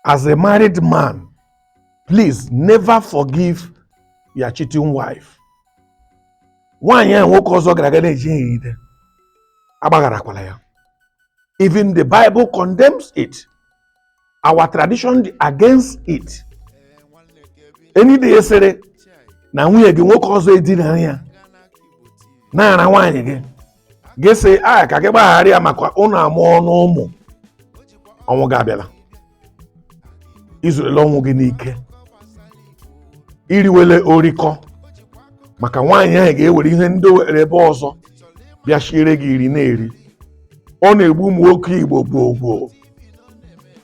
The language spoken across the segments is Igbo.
as a married man please never forgive your cheating wife nwaanyị ahụ nwoke ọzọ gara aga na-ejide agbagharakwala ya even the bible condemns it our tradition dị against it any day sịrị na nwunye gị nwoke ọzọ edinara ya na-ara nwaanyị gị gị sị a ka gị gbaghara ya maka ụnụ amụọna ụmụ ọnwụ gị abịala izurela ọnwụ gị n'ike iriwele orikọ maka nwaanyị ahụ ga-ewere ihe ndị o were ebe ọzọ bịa shiere gị iri na-eri ọ na-egbu ụmụ nwoke igbo gboo gboo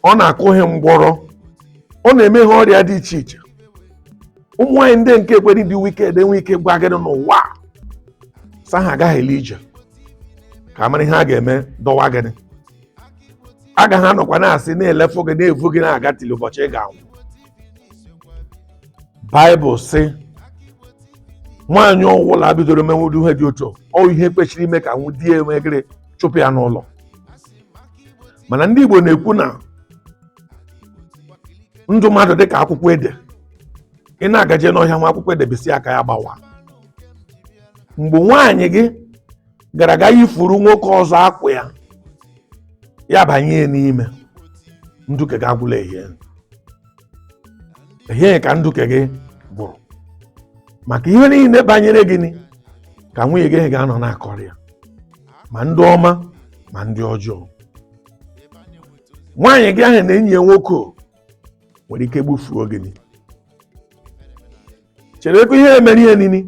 ọ na-akụ ha ngwọrọ ọ na-eme ha ọrịa dị iche iche ụmụ nwaanyị ndị nke ekwere dị wicked enwe ike gwa gị n'ụwa sa ha agaghị ele ije ka a mara ihe a ga-eme dọwa gị agaghị anọkwa na-asị na-elefụ gị na-evu gị na-aga till ụbọchị ị ga-anwụ baịbụl sị nwaanyị ọwụla bidoro mewe ụdị ihe dị otu ahụ ihe kwesịrị ime ka wụ di ya enwegịrị chụpụ ya n'ụlọ mana ndị Igbo na-ekwu na ndụ mmadụ dịka akwụkwọ ede ị na-agaje n'ọhịa hụ akwụkwọ ede bisi aka ya gbawa mgbe nwaanyị gị gara aga yifuru nwoke ọzọ akwa ya ya banye ya n'ime ndụ nke gị agwụla ehie ehie ka ndụ nke gị gwụrụ maka ihe niile banyere gị ka nwunye gị ga-anọ na-akọrọ ya ma ndị ọma ma ndị ọjọọ nwaanyị gị ahụ na enyi ya nwoke nwere ike gbufuo gị chere ebe immediately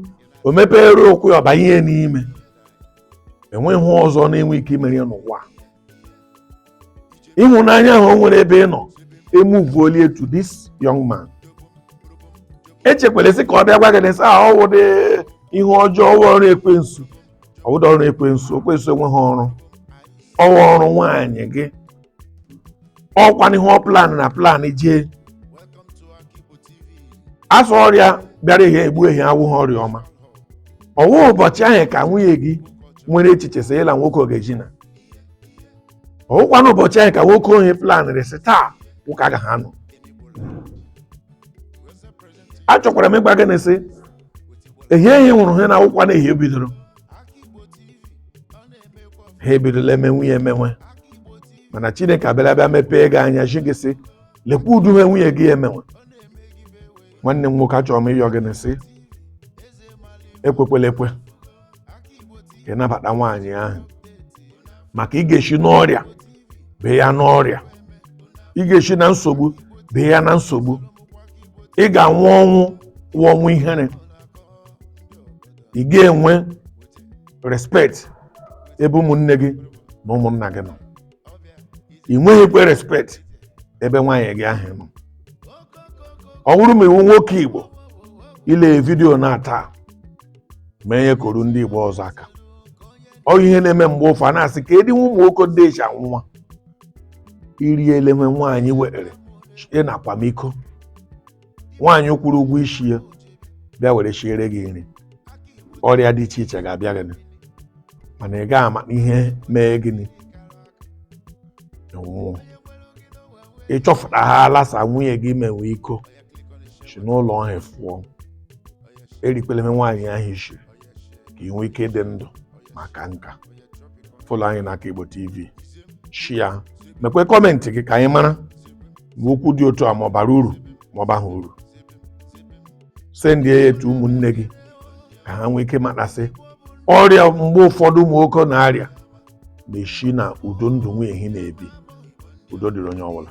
o mepere ụkwụ ya ọ banye ya n'ime enweghị ihe ọzọ na-enwe ike imere ya n'ụwa ịhụnanya ahụ o nwere ebe ị nọ emuvuola to this young man echekwala sị ka ọ bịa gwa gị na sị ọ wụdị ihe ọjọọ ọrụ ekwensu ọ bụdị ọrụ ekwensu ekwensu enweghị ọrụ ọ wụ ọrụ nwaanyị gị ọ wụkwanụ ihe ọ plan na plan jee a sị ọrịa bịara ehi gbuo ehi awụghị ọrịa ọma ọwụ ụbọchị ahụ ka nwunye gị nwere echiche sị ịla nwoke ọ ga-edina ọwụkwana ụbọchị ahụ ka nwoke ahụ planrị sị taa nwoke agaghị anọ achọkwara m ịgwa gị na sị ehie ihe nwụrụ ha na awụkwana ehie bidoro ha ebidola emewe ya emewe mana chineke abịara bịa mepee gị anya chi gị sị lekwa ụdị ihe nwunye gị emewe nwanne m nwoke achọrọ m ịyọ gị na sị ekwekwela ekwe ka ị nabata nwaanyị ahụ maka ị ga-eshi n'ọrịa bee ya n'ọrịa ị ga-eshi na nsogbu bee ya na nsogbu ị ga-anwụ ọnwụ wụ ọnwụ ihere ị ga-enwe respect ebe ụmụnne gị na ụmụnna gị nọ ị nweghịkwa respect ebe nwaanyị gị ahụ nọ ọ bụrụ ma ị wụ nwoke igbo i lee vidiyo na taa mee ihe kọọrọ ndị igbo ọzọ aka ọ ihe na-eme mgbe ụfọ a na-asị ka edi nwa ụmụ nwoke ndị eji anwụ nwa i riele ihe nwaanyị were shie na-akwa m iko nwaanyị ị kwụrụ ụgwọ isi ya bịa were shiere gị nri ọrịa dị iche iche ga-abịa gị mana ị gaghị ama ihe mee gị ị nwụọ ị chọfụtahala sị nwunye gị mewe iko si n'ụlọ ahụ fụọ erikwele ihe nwaanyị ahụ shiri ka ị nwee ike ịdị ndụ maka nka follow anyị na aka igbo tv share mekwa comment gị ka anyị mara ma okwu dị otu a ma ọ bara uru ma ọ baghị uru send ya to ụmụnne gị ka ha nwee ike matasị ọrịa mgbe ụfọdụ ụmụ nwoke na-arịa na-esi n'ụdị ndụ nwunye ha na-ebi udo dịrị onye ọbụla